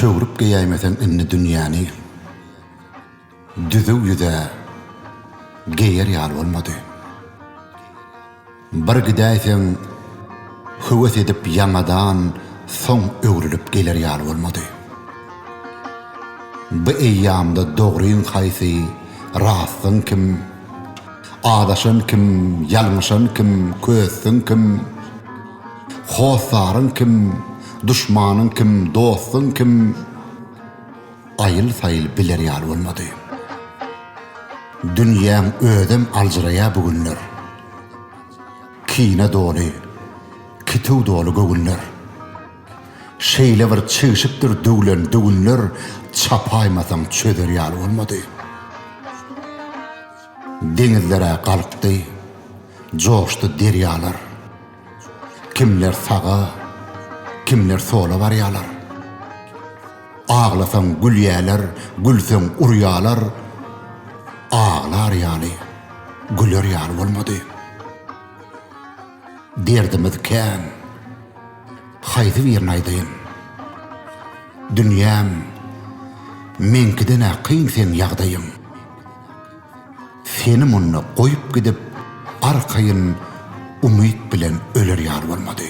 Çöwrüp geýäýmeseň indi dünýäni, Düzüw ýüz-ä geýer ýaly bolmady. Bir gidäýseň, höwes edip ýaňadan Soň öwrülip geler ýaly bolmady. Bu eýýamda dogryň haýsy, rastyň kim, Azaşan kim, ýalňyşan kim, kösdüň kim? Hossaryň kim, duşmanyň kim, dostuň kim, aýyl-saýyl biler ýaly bolmady. Dünýäň özem aljyraýar bu günler. Kine doly, kituw doly göwünler. Şeýle bir çigşipdir döwlen döwünler, çapaýmasaň çözer ýaly bolmady. Deňizler-ä galkdy, joşdy derýalar. Kimler saga, kimler sola barýarlar. Aglasaň gülýärler, gülseň urýarlar. Aglar ýaly, güler ýaly bolmady. Derdimiz kän. Haýsy birini aýdaýyn? Dünýäm, meňkiden-ä kyn seň ýagdaýyň. Seni munda goýup gidip, arkaýyn umyt bilen öler ýaly bolmady.